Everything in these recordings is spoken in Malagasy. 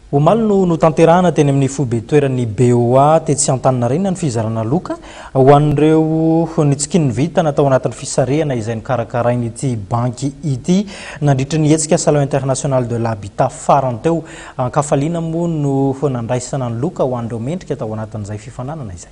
Omaly no notanterahana teny amin'ny foibe toeran'ny BOA tetsy Antaninarenina ny fizarana loka ho an'ireo nitsikin'ny vintana tao anatin'ny fisarihana izay nokarakarain'ity banky ity nandritra ny hetsika Salon International de l'Habitat farany teo. An-kafaliana moa no nandraisana ny loka ho an'ireo mendrika tao anatin'izay fifaninanana izay.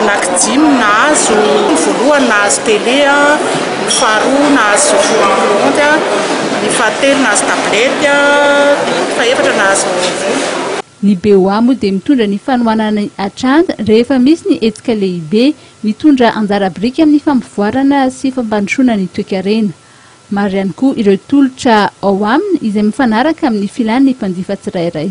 Anaky dimy nahazo, ny voalohany nahazo télé, ny faharoa nahazo filohan'ny kaonty, ny fahatelo nahazo tablette, ny fahefatra nahazo vola. Ny BOA moa dia mitondra ny fanohanana ny Atrand rehefa misy ny hetsika lehibe, mitondra anjara biriky amin'ny fampivoarana sy fampandrosoana ny toekarena. Maro ihany koa ireo tolotra ao aminy izay mifanaraka amin'ny filan'ny mpanjifa tsirairay.